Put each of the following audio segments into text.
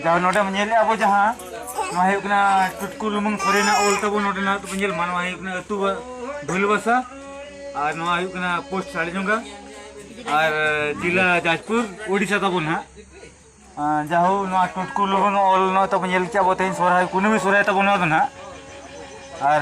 ᱡᱟᱦᱟᱸ ᱱᱚᱰᱮ ᱧᱮᱞ ᱟᱵᱚ ᱡᱟᱦᱟᱸ ᱱᱚᱣᱟ ᱦᱩᱭᱩᱜ ᱠᱟᱱᱟ ᱴᱩᱴᱠᱩ ᱞᱩᱢᱟᱹᱝ ᱠᱚᱨᱮᱱᱟᱜ ᱚᱞ ᱛᱟᱵᱚ ᱱᱚᱰᱮᱱᱟᱜ ᱛᱟᱵᱚ ᱧᱮᱞ ᱢᱟ ᱱᱚᱣᱟ ᱦᱩᱭᱩᱜ ᱠᱟᱱᱟ ᱟᱹᱛᱩ ᱵᱷᱩᱞᱵᱟᱥᱟ ᱟᱨ ᱱᱚᱣᱟ ᱦᱩᱭᱩᱜ ᱠᱟᱱᱟ ᱯᱳᱥᱴ ᱥᱟᱲᱤᱡᱚᱝᱜᱟ ᱟᱨ ᱡᱮᱞᱟ ᱡᱟᱡᱽᱯᱩᱨ ᱳᱰᱤᱥᱟ ᱛᱟᱵᱚ ᱱᱟᱦᱟᱜ ᱡᱟᱦᱳ ᱱᱚᱣᱟ ᱴᱩᱴᱠᱩ ᱞᱩᱢᱟᱹᱝ ᱚᱞ ᱱᱚᱣᱟ ᱛᱟᱵᱚ ᱧᱮᱞ ᱠᱮᱜᱼᱟ ᱵᱚ ᱛᱮᱦᱮᱧ ᱥᱚᱨᱦᱟᱭ ᱠᱩᱱᱟᱹᱢᱤ ᱥᱚᱨᱦᱟᱭ ᱛᱟᱵᱚ ᱱᱚᱣᱟ ᱫᱚ ᱱᱟᱦᱟᱜ ᱟᱨ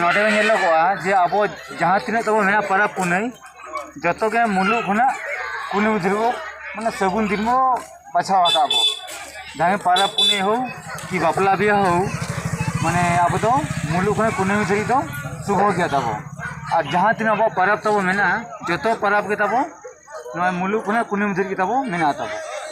ᱱᱚᱰᱮ ᱧᱮᱞᱚᱜᱚᱜᱼᱟ ᱡᱮ ᱟᱵᱚ ᱡᱟᱦᱟᱸ ᱛᱤᱱᱟᱹᱜ ᱛᱟᱵᱚ ᱢᱮᱱᱟᱜᱼᱟ ᱯᱚᱨᱚᱵᱽ ᱯᱩᱱᱟᱹᱭ ᱡᱚᱛᱚ ᱜᱮ ᱢᱩᱞᱩᱜ ᱠᱷᱚᱱᱟᱜ ᱠᱩᱞᱦᱤ ᱢᱩᱪᱟᱹᱫ ᱫᱷᱟᱹᱵᱤᱡ ᱵᱚ ᱢᱟᱱᱮ ᱥᱟᱹᱜᱩᱱ ᱫᱤᱱ ᱵᱚ ᱵᱟᱪᱷᱟᱣ ᱟᱠᱟᱫ ᱟᱵᱚ ᱡᱟᱦᱟᱸ ᱯᱚᱨᱚᱵᱽ ᱯᱩᱱᱟᱹᱭ ᱦᱳᱠ ᱠᱤ ᱵᱟᱯᱞᱟ ᱵᱤᱦᱟᱹ ᱦᱳᱠ ᱢᱟᱱᱮ ᱟᱵᱚ ᱫᱚ ᱢᱩᱞᱩᱜ ᱠᱷᱚᱱᱟᱜ ᱠᱩᱞᱦᱤ ᱢᱩᱪᱟᱹᱫ ᱫᱷᱟᱹᱵᱤᱡ ᱫᱚ ᱥᱩᱵᱷᱚ ᱜᱮᱭᱟ ᱛᱟᱵᱚ ᱟᱨ ᱡᱟᱦᱟᱸ ᱛᱤᱱᱟᱹᱜ ᱟᱵᱚᱣᱟᱜ ᱯᱚᱨᱚᱵᱽ ᱛᱟᱵᱚ ᱢᱮᱱᱟᱜᱼᱟ ᱡᱚᱛᱚ ᱯᱚᱨᱚᱵᱽ ᱜᱮ ᱛᱟᱵᱚ ᱱᱚᱣᱟ ᱢᱩᱞᱩᱜ ᱠᱷᱚᱱᱟᱜ ᱠᱩᱞᱦᱤ ᱢᱩᱪᱟᱹᱫ ᱫᱷᱟᱹᱵᱤᱡ ᱜᱮ ᱛᱟᱵᱚ ᱢᱮᱱᱟᱜ ᱛᱟᱵᱚ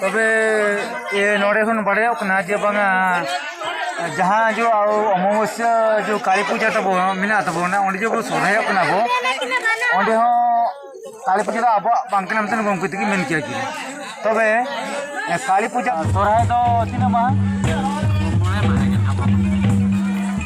ᱛᱚᱵᱮ ᱱᱚᱰᱮ ᱠᱷᱚᱱ ᱵᱟᱲᱟᱭᱚᱜ ᱠᱟᱱᱟ ᱡᱮ ᱵᱟᱝᱟ ᱡᱟᱦᱟᱸ ᱡᱚ ᱚᱢᱟᱵᱚᱥᱭᱟ ᱡᱚ ᱠᱟᱹᱞᱤ ᱯᱩᱡᱟᱹ ᱛᱟᱵᱚ ᱢᱮᱱᱟᱜ ᱛᱟᱵᱚᱱᱟ ᱚᱸᱰᱮ ᱡᱚ ᱵᱚ ᱥᱚᱨᱦᱟᱭᱚᱜ ᱠᱟᱱᱟ ᱵᱚ ᱚᱸᱰᱮ ᱦᱚᱸ ᱠᱟᱹᱞᱤ ᱯᱩᱡᱟᱹ ᱫᱚ ᱟᱵᱚᱣᱟᱜ ᱵᱟᱝ ᱠᱟᱱᱟ ᱢᱤᱫᱴᱮᱱ ᱜᱚᱢᱠᱮ ᱛᱮᱜᱮ ᱢᱮᱱ ᱠᱮᱭᱟ ᱠᱤᱱ ᱛᱚᱵᱮ ᱠᱟᱹᱞᱤ ᱯᱩᱡᱟᱹ ᱥᱚᱨᱦᱟᱭ ᱫᱚ ᱛᱤᱱᱟᱹᱜ ᱢᱟᱦᱟ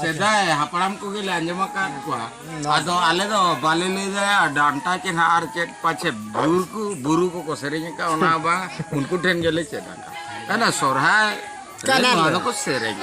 ᱥᱮᱫᱟᱭ ᱦᱟᱯᱲᱟᱢ ᱠᱚᱜᱮ ᱞᱮ ᱟᱸᱡᱚᱢ ᱟᱠᱟᱫ ᱠᱚᱣᱟ ᱟᱫᱚ ᱟᱞᱮ ᱫᱚ ᱵᱟᱞᱮ ᱞᱟᱹᱭ ᱫᱟᱲᱮᱭᱟᱜᱼᱟ ᱰᱟᱱᱴᱟ ᱪᱮᱫ ᱟᱨ ᱪᱮᱫ ᱯᱟᱪᱷᱮ ᱵᱩᱨ ᱠᱚ ᱵᱩᱨᱩ ᱠᱚᱠᱚ ᱥᱮᱨᱮᱧ ᱟᱠᱟᱫ ᱚᱱᱟ ᱵᱟᱝ ᱩᱱᱠᱩ ᱴᱷᱮᱱ ᱜᱮᱞᱮ ᱪᱮᱫ ᱟᱠᱟᱫ ᱠᱟᱱᱟ ᱥᱚᱨᱦᱟᱭ ᱨᱮ ᱱᱚᱣᱟ ᱫᱚᱠᱚ ᱥᱮᱨᱮᱧ